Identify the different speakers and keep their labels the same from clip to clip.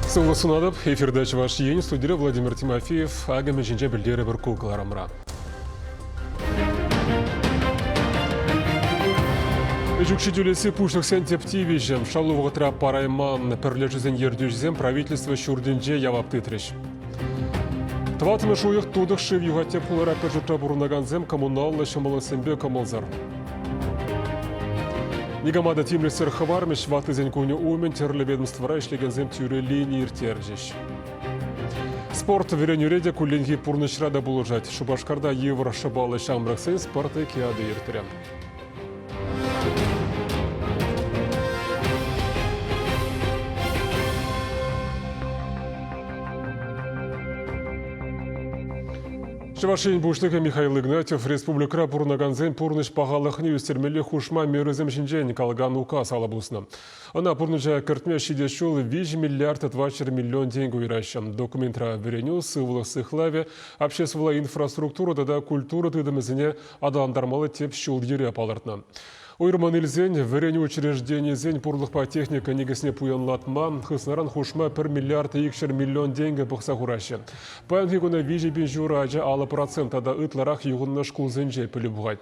Speaker 1: Сывлӑх сунатӑп. Эфирта Чӑваш Ен студире Владимир Тимофеев Агамӗ ҫинче пӗлтерӗпӗр ку кӑларӑмра. Ӗҫ укҫи-тӳлеси пуҫлӑхсен тӗп тивӗҫӗ. Шалу вӑхӑтра парайман пӗрлешӳсен ертӳҫисем правительство ҫуртӗнче явап тытрӗҫ. Тӑваттӑмӗш уйӑх тутӑх шыв юхать тӗп хулара пӗр ҫуртра пурӑнакансем коммуналлӑ ҫӑмӑллӑхсемпе кӑмӑлсӑр. Никама та тимлӗхсӗр хӑвармӗҫ. Ваттисен кунӗ умӗн тӗрлӗ ведомствӑра ӗҫлекенсем тӳрӗ лини ирттерчӗҫ. Спорт, вӗренӳре те кулленхи пурнӑҫра та пулӑшать. Шупашкарта йывӑр шӑпаллӑ ҫамрӑксен спорт олимпиады иртрӗ. Чӑваш Ен Пуҫлӑхӗ Михаил Игнатьев республикӑра пурӑнакансен пурнӑҫ пахалӑхне ӳстермелли хушма мерӑсем ҫинчен калакан указ алӑ пуснӑ. Ӑна пурнӑҫа кӗртме ҫитес ҫул 5 миллиард 24 миллион тенкӗ уйӑраҫҫӗ. Документра вӗренӳ, сывлӑх сыхлавӗ, обществӑлла инфраструктура тата культура тытӑмӗсене аталантармалли тӗп ҫул-йӗре палӑртнӑ. Уйрӑммӑн илсен, вӗренӳ учрежденийӗсен пурлӑхпа техника никӗсне пуянлатма, хыснаран хушма пӗр миллиард икҫӗр миллион тенкӗ пӑхса хураҫҫӗ. Паянхи куна виҫӗ пин ҫур ача алӑ процент тата ытларах юхӑннӑ шкулсенче пӗлӳ пухать.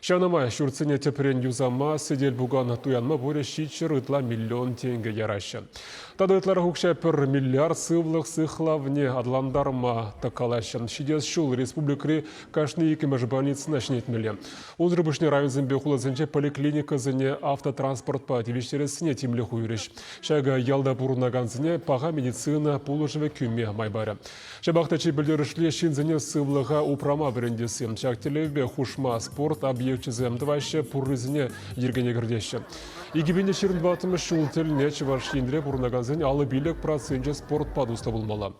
Speaker 1: Ҫавна май ҫуртсене тӗпрен юсама, сӗтел-пукан туянма пурӗ ҫичҫӗр ытла миллион тенкӗ яраҫҫӗ. Тата ытларах укҫа пӗр миллиард сывлӑх сыхлавне аталантарма та калаҫҫӗ. Ҫитес ҫул республикӑри кашни иккӗмӗш больницӑна ҫӗнетмелле. Унсӑр пуҫне районсемпе хуласенче поликлиникӑсене автотранспортпа тивӗҫтерессине тимлӗх уйӑрӗҫ. Ҫакӑ ялта пурӑнакансене паха медицина пулӑшӑвӗ кӳме май парӗ. Ҫапах та чи пӗлтерӗшли ҫынсене сывлӑха упрама вӗрентесси. Ҫак тӗллевпе хушма спорт объекчӗсем тӑваҫҫӗ, пуррисене йӗркене кӗртеҫҫӗ. Икӗ пин ҫирӗн тӑваттӑмӗш ҫул тӗлне Чӑваш Енре пурӑнакансен алӑ пилӗк проценчӗ спортпа туслӑ пулмалла.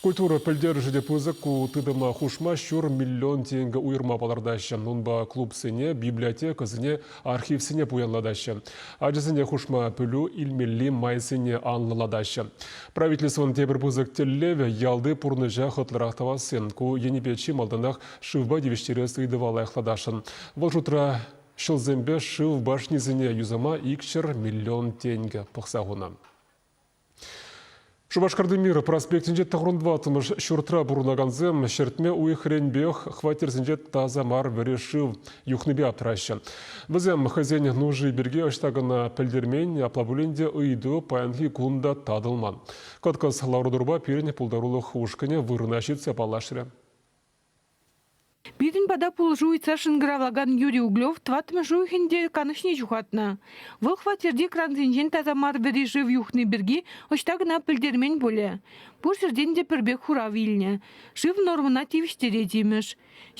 Speaker 1: Культура пӗлтерӗшӗ те пысӑк, ку тытӑма хушма ҫур миллион тенкӗ уйӑрма палӑртаҫҫӗ. Унпа клубсене, библиотекӑсене, архивсене пуянлатаҫҫӗ. Ачасене хушма пӗлӳ илмелли майсене анлӑлатаҫҫӗ. Правительствӑн тепӗр пысӑк тӗллевӗ ялти пурнӑҫа хӑтлӑрах тӑвасси. Ку енӗпе чи малтанах шывпа тивӗҫтерес ыйтӑва лайӑхлатасшӑн. Вӑл шутра ҫӑлсемпе шыв башнисене юсама икҫӗр миллион тенкӗ пӑхса хунӑ. Шупашкарти Мир проспектӗнче тӑхӑрӑн тӑваттӑмӗш ҫуртра пурӑнакансем ҫӗртме уйӑхренпех хваттерсенче таса мар вӗри шыв юхнипе аптраҫҫӗ. Вӗсем хӑйсен нуши пирки ӑҫта кӑна пӗлтермен, апла пулин те ыйту паянхи кун та татӑлман. Кӑткӑс лару-тӑрупа пирӗн пултарулӑх ушкӑнӗ вырӑна ҫитсе паллашрӗ.
Speaker 2: Пирӗн пата пулӑшу ыйтса шӑнкӑравлакан Юрий Углев тӑваттӑмӗш уйӑхӗн те канӑҫне ҫухатнӑ. Вӑл хваттерти крансенчен таса мар вӗри шыв юхни пирки ӑҫта кӑна пӗлтермен пулӗ. Пур ҫӗртен те пӗрпек хурав илнӗ. Шыв нормӑна тивӗҫтерет имӗш.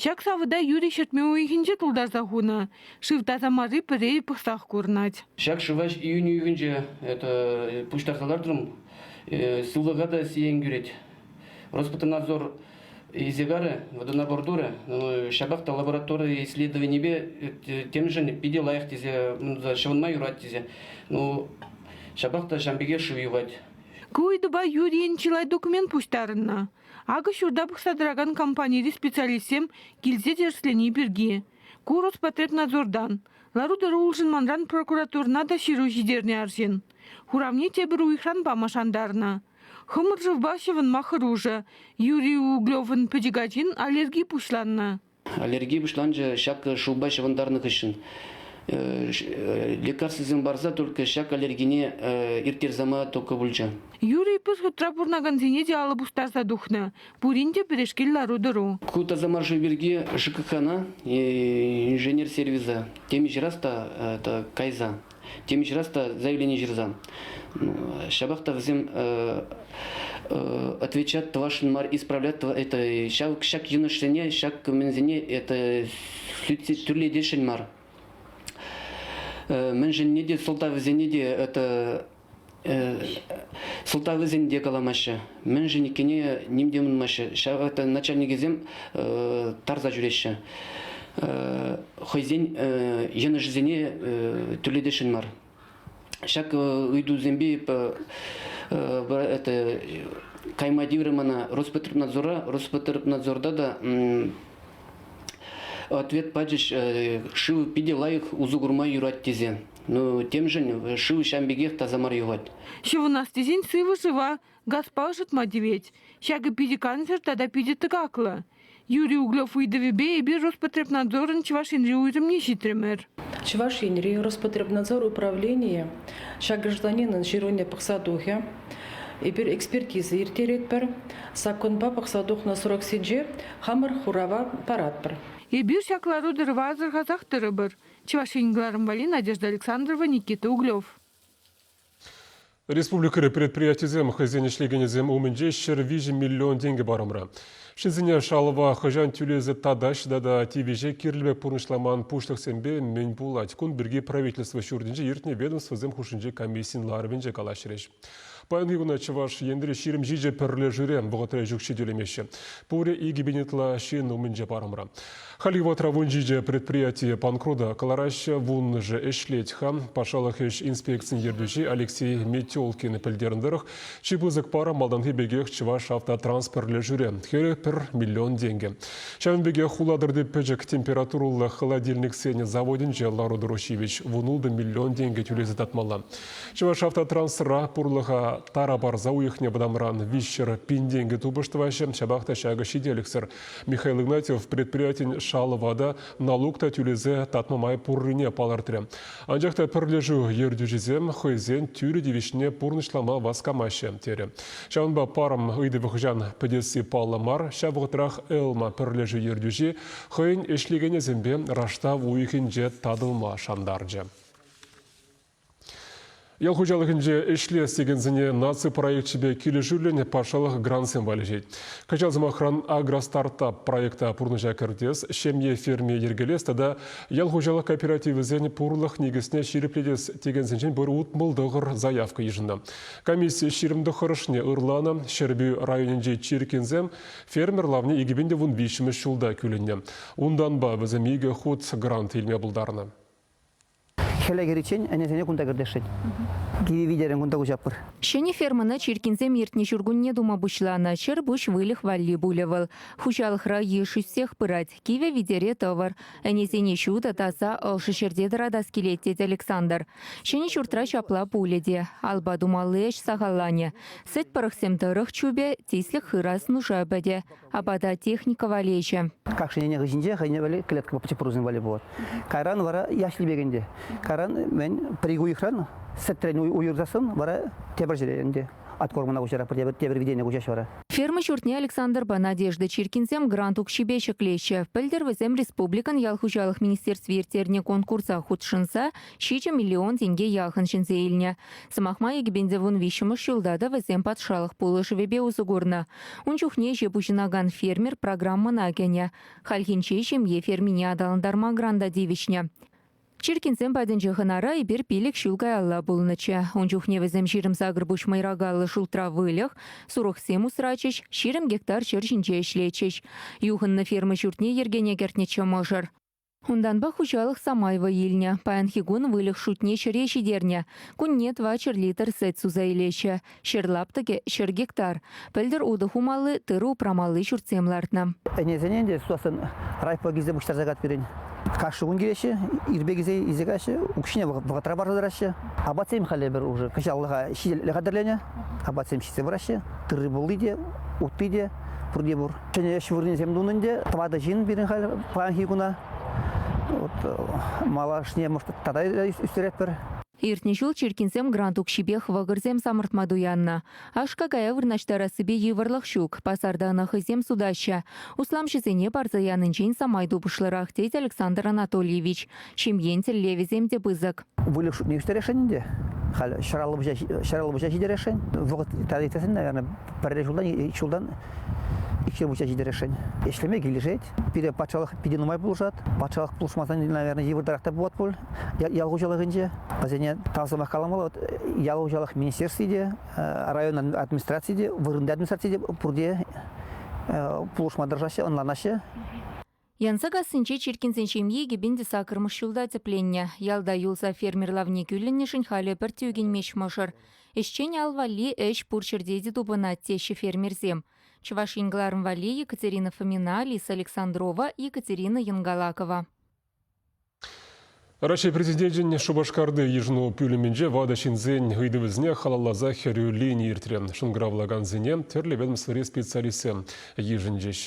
Speaker 2: Ҫак савӑта Юрий ҫӗртме уйӑхӗнче тултарса хунӑ. Шыв таса марри пӗрре пӑхсах курӑнать. Ҫак шыва июнь
Speaker 3: уйӑхӗнче это, пуҫтарса лартрӑм. Сывлӑха та сиен кӳрет. Роспотребнадзор Изегары, водонабор ну, ҫапах та лаборатория исследованипе темшӗн питӗ лайӑх тесе, ҫӑвӑнма юрать тесе. Ну, ҫапах та ҫам пекех шыв юхать. Ку ыйтупа
Speaker 2: Юрийӑн чылай документ пуҫтарӑннӑ. Акӑ ҫурта пӑхса тӑракан компанири специалистсем килсе тӗрӗслени пирки. Ку Роспотребнадзордан, лару-тӑру улшӑнманран прокуратурӑна та ҫыру ҫитернӗ арҫын. Хуравне тепӗр уйӑхран пама шантарнӑ. Хӑмӑршӑвпа ҫӑвӑнма хӑрушӑ. Юрий Углевӑн пӗчӗк ачин аллерги пуҫланнӑ. Аллерги пуҫланчӗ
Speaker 3: ҫак шывпа ҫӑвӑнтарнӑ хыҫҫӑн. Лекарствӑсем парса только ҫак аллергине ирттерсама только пулчӗ. Юрий пысхутра
Speaker 2: пурӑнакансене те алӑ пустарса тухнӑ. Пурин те пӗрешкел лару-тӑру. Ку тасамар шыв
Speaker 3: пирки ЖКХна, инженер сервиса, темиҫе раз та кайса Тем ҫырас та заявление ҫырсан. Ҫапах та вӗсем отвечать тӑвашшӑн мар, исправлять это ҫак, ҫак йӑнӑшсене, ҫак кменсене это тӳрлетесшӗн мар. Мӗншӗнне те сӑлтавӗсене те это сӑлтавӗсем те каламаҫҫӗ, мӗншӗн иккенне ним те ӑнмаҫҫӗ. Ҫав вакытта начальникӗсем тарса ҫӳреҫҫӗ. Хӑйсен йӑнӑшӗсене тӳлетесшӗн мар. Ҫак ыйтусемпе кайма тиврӗ мана Роспотребнадзора. Роспотребнадзорта та ответ пачӗҫ, шыв питӗ лайӑх усӑ курма юрать тесе. Ну, темшӗн шыв ҫав
Speaker 2: пекех
Speaker 3: таса мар юхать. Ҫӑвӑнас
Speaker 2: тесен
Speaker 3: сывӑ
Speaker 2: шыва,
Speaker 3: газпа
Speaker 2: ӑшӑтма тивет. Ҫакӑ питӗ кансӗр тата питӗ тӑкаклӑ. Юрий Углев ыйтӑвӗпе эпир Роспотребнадзорӑн Чӑваш Енри уйрӑмне ҫитрӗмӗр. Чӑваш Енри
Speaker 4: Роспотребнадзор управленийӗ ҫак гражданинӑн ҫыруне пӑхса тухӗ. Эпир экспертиза ирттеретпӗр, саккунпа пӑхса тухнӑ сроксенче хамӑр хурава паратпӑр. Эпир ҫак
Speaker 2: лару-тӑрӑва асӑрхасах тӑрӑпӑр. Чӑваш Ен кӑларӑм валли Надежда Александрова, Никита Углев.
Speaker 1: Республикӑри предприятисем хӑйсен ӗҫлекенӗсем умӗнче ҫӗр виҫӗ миллион тенкӗ парӑмра. Ҫынсене шалӑва хӑҫан тӳлесе татаҫҫӗ тата тивӗҫе кирлӗ пек пурнӑҫламан пуҫлӑхсемпе мӗн пулать? Кун пирки правительство ҫуртӗнче иртнӗ ведомствӑсем хушшинчи комиссийӗн ларӑвӗнче калаҫрӗҫ. Паянхи куна Чӑваш Енри ҫирӗм ҫичӗ пӗрлешӳре вӑхӑтра ӗҫ укҫи тӳлемеҫҫӗ. Пурӗ икӗ пин ытла ҫын умӗнче парӑмра. Хальхи вӑхӑтра вун ҫичӗ предприятие панкрута кӑлараҫҫӗ, вуннӑшӗ ӗҫлет-ха. Патшалӑх ӗҫ инспекцийӗн ертӳҫи Алексей Метелкин пӗлтернӗ тӑрӑх, чи пысӑк парӑм малтанхи пекех Чӑваш автотранспорт пӗрлешӳре, хӗрӗх пӗр миллион тенкӗ. Ҫавӑн пекех хулатӑрти пӗчӗк температурӑллӑ холодильниксен заводӗнче лару-тӑру ҫивӗч, вун ултӑ миллион тенкӗ тӳлесе татмалла. Чӑвашавтотрансра пурлӑха тара парса уйӑхне вӑтамран виҫҫӗр пин тенкӗ тупӑш тӑваҫҫӗ. Ҫапах та ҫакӑ ҫителӗксӗр. Михаил Игнатьев предприятин шалӑва та, налук та тӳлесе татма май пуррине палӑртрӗ. Анчах та пӗрлешӳ ертӳҫисем хӑйсен тӳрӗ тивӗҫне пурнӑҫлама васкамаҫҫӗ, терӗ. Ҫавӑнпа парӑм ыйтӑвӗ хӑҫан пӗтесси паллӑ мар. Ҫав вӑхӑтрах Элма пӗрлешӳ ертӳҫи хӑйӗн ӗҫлекенӗсемпе раштав уйӑхӗнче татӑлма шантарчӗ. Ял хуҫалӑхӗнче ӗҫлес текенсене наци проекчӗпе килӗшӳллӗн патшалӑх грантсем валеҫет. Кӑҫал, сӑмахран, Агростартап проекта пурнӑҫа кӗртес, ҫемье ферми йӗркелес тата ял хуҫалӑх кооперативӗсен пурлӑх никӗсне ҫирӗплетес текенсенчен пӗр утмӑл тӑхӑр заявка йышӑннӑ. Комисси ҫирӗм тӑххӑрӑшне ырланӑ. Ҫӗрпӳ районӗнчи Чиркинсем фермер лавне икӗ пин те вун виҫҫӗмӗш ҫулта кӳлӗннӗ. Унтанпа вӗсем икӗ хут грант илме пултарнӑ.
Speaker 5: Хӗле кӗриччен ӗнесене кунта кӗртесшӗн. Кивӗ витерӗн кунта куҫатпӑр. Ҫӗнӗ фермӑна
Speaker 6: чиркинсем иртнӗ ҫуркунне тума пуҫланӑ. Ҫӗр пуҫ выльӑх валли пулӗ вӑл. Хуҫалӑхра йыш ӳссех пырать. Кивӗ витере тӑвӑр. Ӗнесене ҫутӑ, таса, ӑшӑ ҫӗрте тӑратас килет, тет Александр. Ҫӗнӗ ҫуртра ҫапла пулӗ те. Алпа тумалли ӗҫ сахалланӗ. Сӗт пӑрӑхсем тӑрӑх чупӗ, тислӗк хырас нуша пӗтӗ. апата техника валеҫӗ. Как шинене хыҫӗнче
Speaker 5: хӑйне валли клетка папчепорусем валли пулать. Кайран вара яш типекен те. Кайран мен пӗр ик уйӑхран сӗтрен уйӑрсассӑн вара тепӗр ҫӗре ӗнтӗ откормӑна куҫара тепӗр кӗтене куҫаҫ вара. Ферма ҫуртне
Speaker 6: Александрпа Надежда Чиркинсем грант укҫипе ҫӗклеҫҫӗ. Пӗлтӗр вӗсем республикӑн ял хуҫалӑх министерстви ирттернӗ конкурса хутшӑнса Ҫичӗ миллион тенке яхӑн ҫӗнсе илнӗ. Сӑмах май, кӗпенсе вун виҫҫӗмӗш ҫулта та вӗсем патшалӑх пулӑшӑвӗпе усӑ курнӑ. Ун чухне ӗҫе пуҫӑнакан фермер программӑна кӗнӗ. Хальхинче ҫемье фермине аталантарма гранта тивӗҫнӗ. Чиркинсем патӗнчи хӑнара эпир пилӗк ҫул каялла пулнӑччӗ. Ун чухне вӗсем ҫирӗм-сакӑр пуҫ мӑйракаллӑ шултра выльӑх, сурӑхсем усрачӗҫ, ҫирӗм гектар ҫӗр ҫинче ӗҫлетчӗҫ. Юхӑннӑ ферма ҫуртне йӗркене кӗртнӗччӗ мӑшӑр. Унтанпа хуҫалӑх самай вӑй илнӗ. Паянхи кун выльӑх шутне ҫӗре ҫитернӗ. Кунне 2 литр сӗт суса илеҫҫӗ. Ҫӗр лаптӑкӗ – ҫӗр гектар. Пӗлтӗр утӑ хумалли, тырӑ упрамалли ҫуртсем лартнӑ. Ӗнесене ӗнтӗ
Speaker 5: сутассӑн райпо килсе пуҫтарса кать пирӗн. Кашни кун килеҫҫӗ, ирпе килсе илсе каҫҫӗ, укҫине вӑхӑтра парса тӑраҫҫӗ. Апатсем халӗ пӗр уже кӑҫаллӑха ҫителӗклӗ хатӗрленӗ. Апатсем ҫитсе пыраҫҫӗ. Тырри-пулли те, утти те пурте пур. Ҫӗнӗ ӗҫ вырӑнӗсем тунӑ ӗнтӗ. Тӑватӑ ҫын пирӗн халь паянхи куна. Вот, э, малашне тата ӳстеретпӗр. Иртнӗ ҫул
Speaker 6: Чиркинсем грант укҫипех вӑкӑрсем самӑртма туяннӑ. Аш-какая вырнаҫтарассипе йывӑрлӑх ҫук. Пасарта ӑна хӑйсем сутаҫҫӗ. Усламҫӑсене парса янинчен самай тупӑшлӑрах, тет Александр Анатольевич. Ҫемьен тӗллевӗсем те пысӑк. Выльӑх шутне ӳстересшӗн
Speaker 5: ӗнтӗ. Халь ҫӗр алӑ ҫитересшӗн. Вӑхӑт тата иртесен, наверное, пӗрре ҫултан, ҫултан икҫе пуҫа ҫитересшӗн. Ӗҫлеме килӗшет. Пире патшалӑх питӗ нумай пулӑшать. Патшалӑх пулӑшмасан, наверное, йывӑртарах та пулать пуль ял хуҫалӑхӗнче. Вӗсене тав сӑмах каламалла. Вот ял хуҫалӑх министерстви те, район администрацийӗ те, вырӑнти администраци те пурте пулӑшма тӑрӑшаҫҫӗ, ӑнланаҫҫӗ.
Speaker 6: Янсакассинче Чиркинсен ҫемйи кӗпен те сакӑрмӗш ҫулта тӗпленнӗ. Ялта юлса фермер лавне кӳлӗннӗшӗн халӗ пӗр тӳкӗнмест мӑшӑр. Ӗҫчен ал валли ӗҫ пур ҫӗрте те тупӑнать, теҫҫӗ фермерсем. Чӑваш Ен кӑларӑм валли Екатерина Фомина, Лиса Александрова, Екатерина Янгалакова.
Speaker 1: Раҫҫей Президенчӗн Шупашкарти йышӑну пӳлӗмӗнче ватӑ ҫынсен ыйтӑвӗсене халалласа хӗрӳ лини иртрӗ. Шӑнкӑравлакансене тӗрлӗ ведомствӑри специалистсем йышӑнчӗҫ.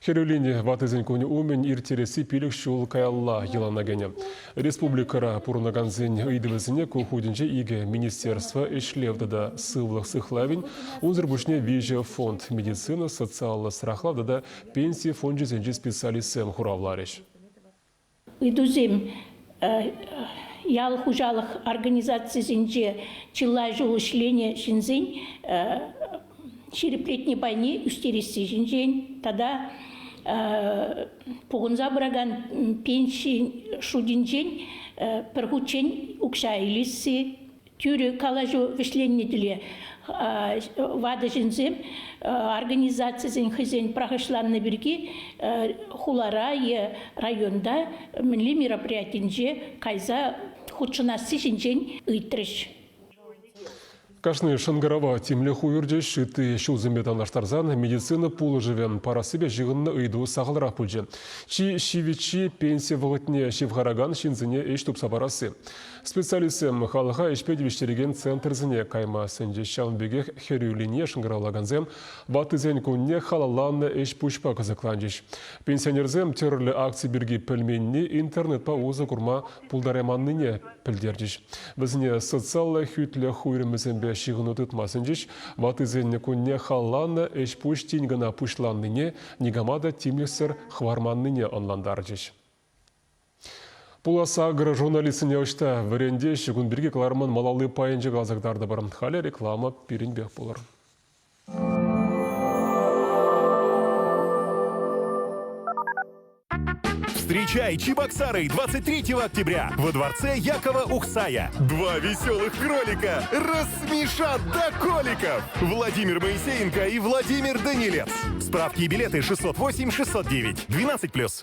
Speaker 1: Хӗрӳ лини ваттисен кунӗ умӗн ирттересси пилӗк ҫул каялла йӑлана кӗнӗ. Республикӑра пурӑнакансен ыйтӑвӗсене ку хутӗнче икӗ министерство ӗҫлев тата сывлӑх сыхлавӗн, унсӑр пуҫне виҫӗ фонд медицина, социаллӑ страхлав тата пенси фончӗсенчи специалистсем хуравларӗҫ.
Speaker 7: Ыйтусем ял хуҫалӑх организацийӗсенче чылай ҫул ӗҫленӗ ҫынсен ҫирӗплетни пайне ӳстересси ҫинчен тата пухӑнса пыракан пенси шутӗнчен пӗр хутчен укҫа илесси тӳрӗ калаҫу вӗҫленнӗ тӗле ватӑ ҫынсем организацисен хӑйсен пӑрахӑҫланнӑ пирки хулара е районта мӗнле мероприятинче кайса хутшӑнасси ҫинчен ыйтрӗҫ.
Speaker 1: Кашни шӑнкӑрава тимлӗх уйӑрчӗҫ. Ытти ҫулсемпе танлаштарсан медицина пулӑшӑвӗ парассипе ҫыхӑннӑ ыйту сахалрах пулчӗ. Чи ҫивӗччи, пенси вӑхӑтне ҫывхаракан ҫынсене ӗҫ тупса парасси. Специалистсем халӑха ӗҫпе тивӗҫтерекен центрсене кайма сӗнчӗҫ. Ҫавӑн пекех хӗрӳ линие шӑнкӑравлакансем ваттисен кунне халалланӑ ӗҫ-пуҫпа кӑсӑкланчӗҫ. Пенсионерсем тӗрлӗ акци пирки пӗлменни интернетпа усӑ курма пултарайманнине пӗлтерчӗҫ. Вӗсене социаллӑ хӳтлӗх уйрӑмӗсемпе ҫыхӑну тытма сӗнчӗҫ. Ваттисен кунне халалланӑ ӗҫ-пуҫ тин кӑна пуҫланнине, никама та тимлӗхсӗр хӑварманнине ӑнлантарчӗҫ. Пулас агро журналистсене ӑҫта вӗрентеҫҫӗ кун пирки кӑларӑмӑн малалли пайӗнче каласа кӑтартӑпӑр. Халӗ реклама пирӗнпех пулӑр.
Speaker 8: Встречай Чебоксары 23 октября во дворце Якова Ухсая. Два веселых кролика рассмешат до коликов. Владимир Моисеенко и Владимир Данилец. Справки и билеты 608-609. 12+.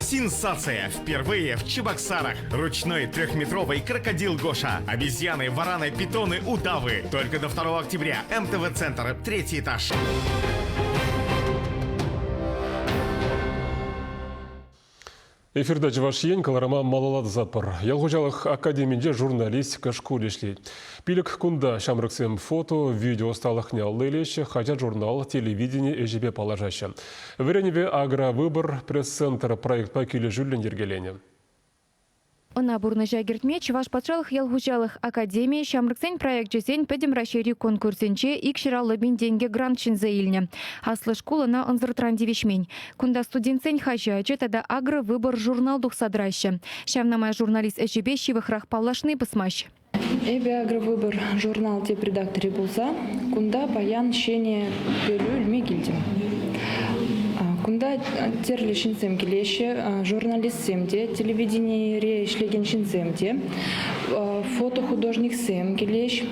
Speaker 9: Сенсация!
Speaker 10: Впервые в Чебоксарах ручной трехметровый крокодил Гоша, обезьяны, вараны, питоны, удавы. Только до 2 октября. МТВ-центр, третий этаж.
Speaker 1: Эфирда Чӑваш Ен кӑларӑма малалатсатпӑр. Ял хуҫалӑх академинче журналистика шкулӗ ӗҫлет. Пилӗк кунта ҫамрӑксем фото, видео ӑсталӑхне алла илеҫҫӗ, хаҫат-журнал, телевидени ӗҫӗпе паллашаҫҫӗ. Вӗренӳпе Агровыбор пресс-центр проектпа килӗшӳллӗн йӗркеленӗ.
Speaker 6: Ӑна пурнӑҫа кӗртме Чӑваш патшалӑх ял хуҫалӑх академийӗ ҫамрӑксен проекчӗсен Пӗтӗм Раҫҫейри конкурсӗнче икҫӗраллӑ пин тенкӗ грант ҫӗнсе илнӗ. Аслӑ шкул ӑна ӑнсӑртран тивӗҫмен. Кунта студентсен хаҫачӗ тата Агровыбор журнал тухса тӑраҫҫӗ. Ҫавна май журналист ӗҫӗпе ҫывӑхрах паллашни пӑсмасть. Эпӗ
Speaker 11: Агровыбор журнал тӗп редакторӗ пулса кунта паян ҫӗнӗ пӗлӳ илме килтӗм. Кунта тӗрлӗ ҫынсем килеҫҫӗ, журналистсем те, телевиденире ӗҫлекен ҫынсем те, фотохудожниксем килеҫҫӗ.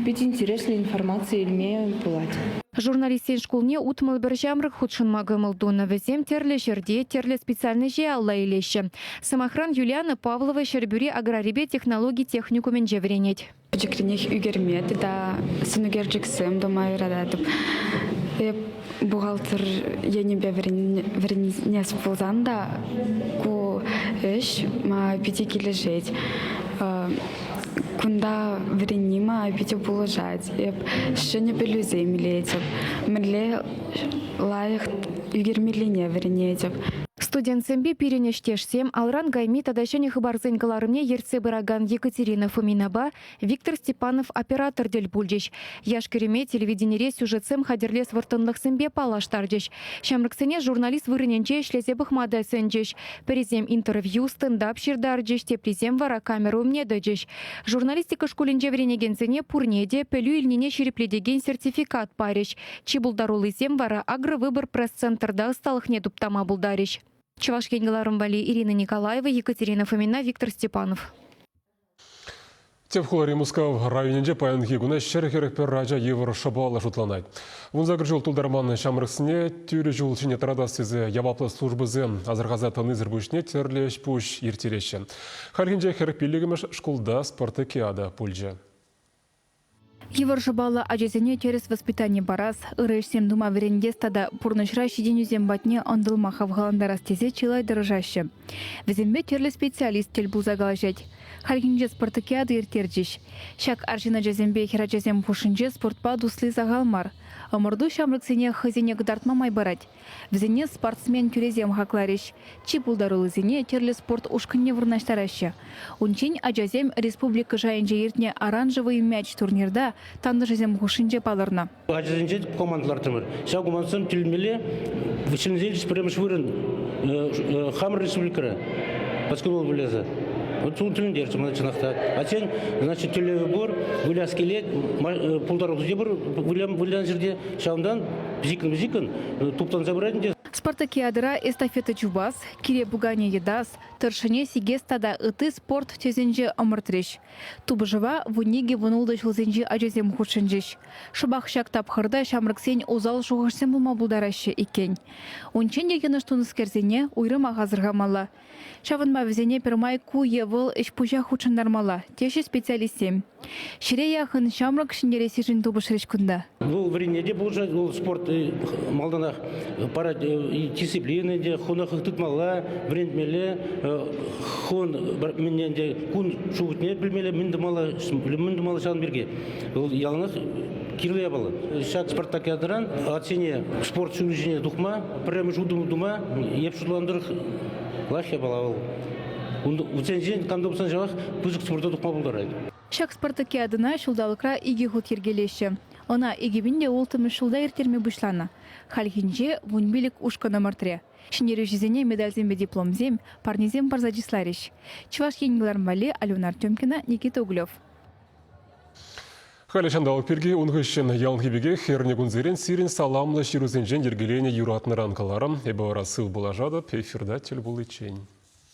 Speaker 11: Питӗ интереслӗ информаци илме пулать. Журналистсен
Speaker 6: шкулне утмӑл пӗр ҫамрӑк хутшӑнма кӑмӑл тунӑ. Вӗсем тӗрлӗ ҫӗрте, тӗрлӗ специальноҫе алла илеҫҫӗ. Сӑмахран, Юлиана Павлова Ҫӗрпӳри аграрипе технологи техникумӗнче вӗренет. Пӗчӗкренех ӳкерме
Speaker 12: тата сӑнӳкерчӗксем тума юрататӑп. Эп бухгалтер енӗпе вӗренес пулсан та ку ӗҫ мана питӗ килӗшет. Кунта вӗренни мана питӗ пулӑшать. Эп ҫӗнӗ пӗлӳсем илетӗп. Мӗнле лайӑх ӳкермеллине вӗренетӗп. Студентсемпе
Speaker 6: пирӗн ӗҫтешсем алран кайми тата ҫӗнӗ хыпарсен кӑларӑмне ертсе пыракан Екатерина Фоминапа Виктор Степанов оператор тӗл пулчӗҫ. Яш-кӗрӗме телевиденире сюжетсем хатӗрлес вӑрттӑнлӑхсемпе паллаштарчӗҫ. Ҫамрӑксене журналист вырӑнӗнче ӗҫлесе пӑхма та сӗнчӗҫ. Пӗрисем интервью, стендап ҫыртарчӗҫ, теприсем вара камера умне тӑчӗҫ. Журналистика шкулӗнче вӗренекенсене пурне те пӗлӳ илнине ҫирӗплетекен сертификат парӗҫ. Чи пултаруллисем вара Агровыбор пресс-центрта ӑсталӑхне туптама пултарӗҫ. Чӑваш Ен кӑларӑм валли Ирина Николаева, Екатерина Фомина, Виктор Степанов. Тӗп
Speaker 1: хулари Мускав районӗнче паянхи куна ҫӗр-хӗрӗх пӗр ача йывӑр шӑпаллӑ шутланать. Вунсакӑр ҫул тултарман ҫамрӑксене тӳрӗ ҫул ҫине тӑратас тесе яваплӑ службӑсем асӑрхаса тӑнисӗр пуҫне тӗрлӗ ӗҫ-пуҫ ирттереҫҫӗ. Хальхинче хӗр пиллӗкмӗш шкулта спорт олимпиада пулчӗ. Йывӑр
Speaker 6: шӑпаллӑ ачасене тӗрӗс воспитани парас, ырӑ ӗҫсем тума вӗрентес тата пурнӑҫра ҫитӗнӳсем патне ӑнтӑлма хавхалантарас тесе чылай тӑрӑшаҫҫӗ. Вӗсемпе тӗрлӗ специалист тӗл пулса калаҫать. Хальхинче спартакиада ирттерчӗҫ. Ҫак арҫын ачасемпе хӗрачасем хушшинче спортпа тусли сахал мар. Ӑмӑрту ҫамрӑксене хӑйсене кӑтартма май парать. Вӗсене спортсмен тӳресем хакларӗҫ. Чи пултаруллисене тӗрлӗ спорт ушкӑнне вырнаҫтараҫҫӗ. Унччен ачасем республика шайӗнче иртнӗ оранжевый мяч турнирта тантӑшӗсем хушшинче палӑрнӑ. Ачасенче команда
Speaker 13: лартӑмӑр. Ҫав командӑсем тӳлемелле ҫӗнӗсенчи пӗрремӗш вырӑн хамӑр республикӑра поскольку выльӑхӗ. Вот тӳлендерчӗ мана чӑнах та. А тен, значит, тӳлевӗ пур, выляс килет, пултаруллӑ те пур вылянӑ ҫӗрте. Ҫавӑнтан пӗчӗккӗн-пӗчӗккӗн туптанса пырать ӗнтӗ. Спартакиадӑра
Speaker 6: эстафета чупас, кире пуканӗ йӑтас, тӑршшӗне сикес тата ытти спорт тӗсӗнче ӑмӑртрӗҫ. Тупӑшӑва вунникӗ-вунултӑ ҫулсенчи ачасем хутшӑнчӗҫ. Шӑпах ҫак тапхӑрта ҫамрӑксен усал шухӑшсем пулма пултараҫҫӗ иккен. Унччен те йӑнӑш тунӑскерсене уйрӑмах асӑрхамалла, Ҫавӑнпа вӗсене пӗрмай ку е вӑл ӗҫ-пуҫа хутшӑнтармалла, теҫҫӗ специалистсем. Ҫӗре яхӑн ҫамрӑк ҫӗнтерессишӗн тупӑшрӗҫ кунта. Вӑл вӗренме те
Speaker 13: пулӑшать, вӑл спорт э, малтанах парать э, дисциплина те, хӑна тытмалла, вӗрентмелле, хӑвӑн мӗнне ӗнтӗ кун шухӑшне пӗлмелле, мӗн тумалла, мӗн тумалла ҫавӑн пирки. Вӑл яланах Кирлӗ япала. Ҫак Спартак ятӑран атсене спорт ҫулӗ ҫине тухма, пӗрремӗш утӑм тума эп шутланӑ тӑрӑх лайӑх япала вӑл. Вӗсенчен кам тупсан ҫавах пысӑк спорта тухма пултарать. Ҫак Спартаке
Speaker 6: атӑна ҫулталӑкра икӗ хут йӗркелеҫҫӗ. Ӑна икӗ пин те улттӑмӗш ҫулта ирттерме пуҫланӑ. Хальхинче вун пилӗк ушкӑн ӑмӑртрӗ. Ҫӗнтерӳҫӗсене медальсемпе дипломсем, парнесем парса чысларӗҫ. Чӑваш Ен вылам валли Алюна Артемкина, Никита Углев. Халӗ
Speaker 1: ҫанталӑк пирки ун хыҫҫӑн яланхи пекех эрне кунсерен сирӗн саламлӑ ҫырусенчен йӗркеленӗ юратнӑран каларӑм. Эпӗ вара сыв пулашатӑп эфирта тӗл пуличчен.